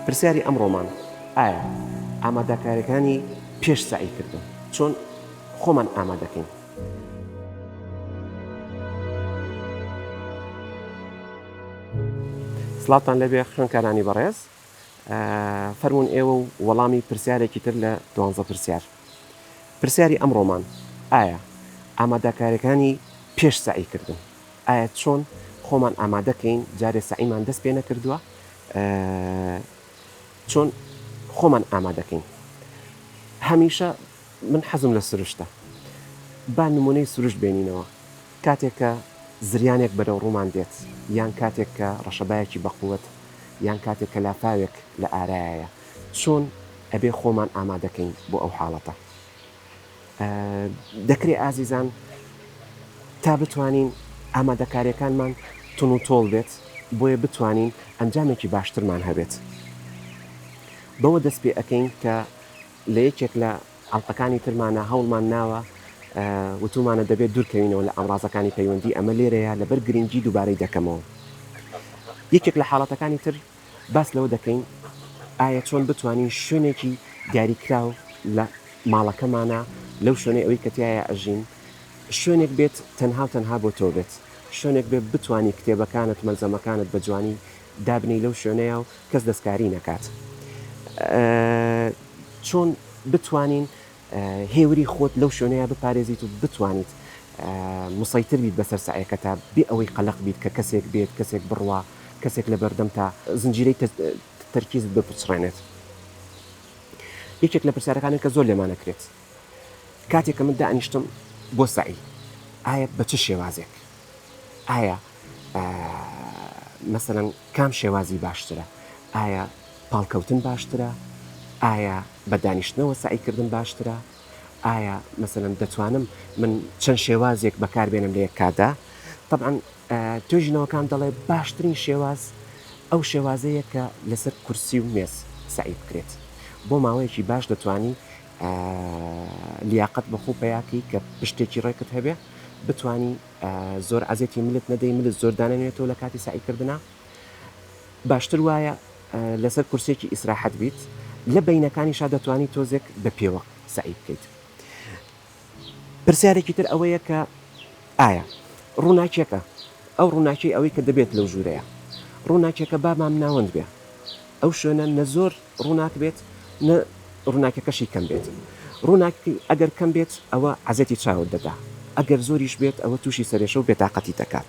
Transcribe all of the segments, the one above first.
پرسیاری ئەمڕۆمان ئایا ئامادەکاریەکانی پێش سعی کردن چۆن خۆمان ئامادەکەین سلاتان لەبێ خوێنکارانی بەڕێز فەرموون ئێوە و وەڵامی پرسیارێکی تر لە دوانزە پرسیار. پرسیاری ئەمڕۆمان، ئایا ئاماداکاریەکانی پێش سەعی کردن؟ ئایا چۆن خۆمان ئامادە کەین جارێ سەعیمان دەست پێ نەکردووە چۆن خۆمان ئامادە کەین؟ هەمیشە من حەزم لە سروشتە با نمونەی سروشت بێنینەوە کاتێک کە زریانێک بەرەو ڕوومان دێت، یان کاتێک کە ڕەشەبایەکی بەقوەت، یان کاتێک کە لافاوێک لە ئارایایە، چۆن ئەبێ خۆمان ئامادەکەین بۆ ئەو حاڵەتە؟ دەکرێ ئازیزان تا بتوانین ئامادەکاریەکانمان تون و تۆڵ بێت، بۆیە بتوانین ئەنجامێکی باشترمان هەبێت. بەوە دەست پێ ئەکەین کە لە یەکێک لە ئەڵقەکانی ترمانا هەوڵمان ناوە وتومانە دەبێت دورکەوینەوە لە ئامڕازەکانی پەیوەندی ئەمە لێرەیە لەبەر گرنگی دوبارەی دەکەمەوە یەکێک لە حاڵەتەکانی تر باس لەوە دەکەین ئایا چۆن بتوانین شوێنێکی دیاریکراو لە ماڵەکەمانە لەو شوێنەی ئەوەی کە تایە ئەژین شوێنێک بێت تەنها و تەنها بۆ تۆ بێت شوێنێک بێ بتانی کتێبەکانت مەلزەمەکانت بە جوانی دابنی لەو شوێنەیە و کەس دەستکاری نەکات چۆن بتوانین هێوری خۆت لەو شوێنەیە بپارێزیت و بتوانیت مسەیتر بیت بەسەر سەعیەکەتا بێ ئەوەی قەلەق بیت کە کەسێک بێت کەسێک بڕوا کەسێک لە بەردەمتا زنجیرەی تەرکیزت بپچڕێنێت یەکێک لە پرسیارەکانێک کە زۆر لێمانەکرێت کاتێک کە من دانیشتم بۆ سەعی ئایا بە چ شێوازێک ئایا مەسەەن کام شێوازی باشترە ئایا پاڵکەوتن باشترە ئایا بە دانیشتنەوە سعیکردن باشترە ئایا مەسەەن دەتوانم من چەند شێوازێک بەکاربێنم لە یەک کادا طبعاان توێژینەوەکان دەڵێ باشترین شێواز ئەو شێوازەیە کە لەسەر کورسی و مێز سعی بکرێت بۆ ماوەیەکی باش دەتوانی لیاقەت بە خۆو پەیا کەی کە پشتێکی ڕێکت هەبێ بتوانی زۆر عەزێتی ملت نەدەی ملت زۆر دانەنوێتەوە لە کاتی سەعی کردنە باشتر وایە لەسەر کورسێکی ئیسراحەت بیت لە بینەکانی شا دەتوانی تۆزێک بە پێوە سەعی بکەیت پرسیارێکی تر ئەوەیە کە ئایا ڕووناکییەکە ئەو ڕووناکیی ئەوەی کە دەبێت لەو ژوورەیە، ڕووناکییەکە با مامناوەند بێ، ئەو شوێنە نە زۆر ڕووناک بێت نە ڕووناکییەکەشی کەم بێت، ڕووناکی ئەگەر کەم بێت ئەوە عەزێتی چاوت دەدا، ئەگەر زۆریش بێت ئەوە تووشی سەرێشە و بێتاقەتی دەکات.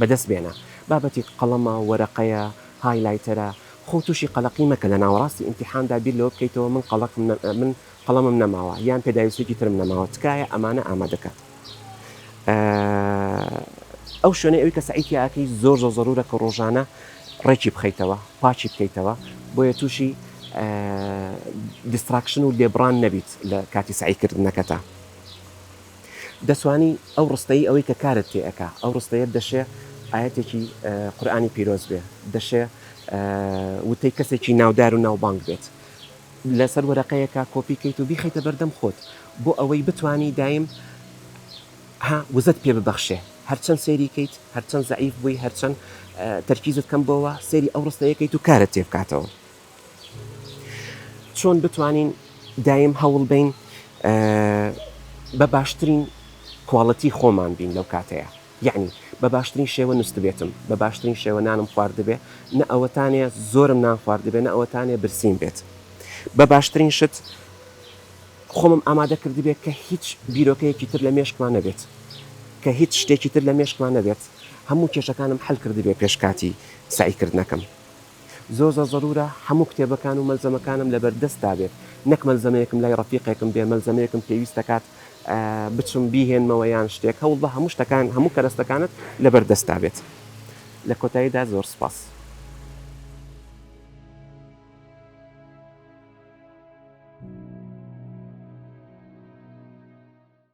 بەدەست بێنە. بابەتی قەڵەمە، وەرەقەیە، های لایتەرە. خۆو تووشی قەلەقی مەکە لە ناوەڕاستی ئیمتیحاندا بیر لەوە بکەیتەوە من قەڵەقم من قەڵەمم نەماوە یان پێداویستیەکی ترم نەماوە تکایە ئەمانە ئامادە کە ئەو شوێنەی ئەوی کە سەعی تیا ئەکەی زۆر زۆر زەرورە کە ڕۆژانە ڕێکی بخەیتەوە پاکی بکەیتەوە بۆیە تووشی دیستراکشن و لێبڕان نەبیت لە کاتی سەعی کردنەکەتا. دەتوانی ئەو ڕستەی ئەوەی کە کارت تێ ئەکا ئەو ڕستەیەت دەشێ ئایەتێکی قورئانی پیرۆز بێ دەشێ وتەی کەسێکی ناودار و ناوبانگ بێت لەسەر وەرەقەیەکە کۆپی کەیت و بیخەیتە بەردەم خۆت بۆ ئەوەی بتانی دایم ها وزەت پێ ببەخشێ هەرچەند سێری کەیت هەرچەند زعیف بووی هەرچەند تەرکیزت کەم بۆوە سێری ئەو ڕستەیەکەیت و کارت تێ بکاتەوە چۆن بتوانین دایم هەوڵ بەین بە باشترین کواڵتی خۆمان بین لەو کاتەیە یعنی بە باشترین شێوە نوستبێتم بە باشترین شێوە نانم خواردبێ نە ئەوەتانێ زۆرم نان خواردبێ نە ئەوەتانێ برسیم بێت بە باشترین شت خۆمم ئامادە کردبێت کە هیچ بیرۆکەیەکی تر لە مێشکمان نەبێت کە هیچ شتێکی تر لە مێشکمان نەبێت هەموو کێشەکانم حل کردبێ پێشکاتی سعیکردنەکەم زۆر زۆر زەرورە هەموو کتێبەکان و مەلزەمەکانم لەبەر دەستدا بێت نەک مەلزەمەیەکم لای ڕەفیقێکم بێ مەلزەمەیەکم پێویست دەکات بچم بیهێنمەوە یان شتێک هەوڵبە هەموو شتەکان هەموو کەرەستەکانت لەبەر دەستدا بێت لە کۆتاییدا زۆر سپاس.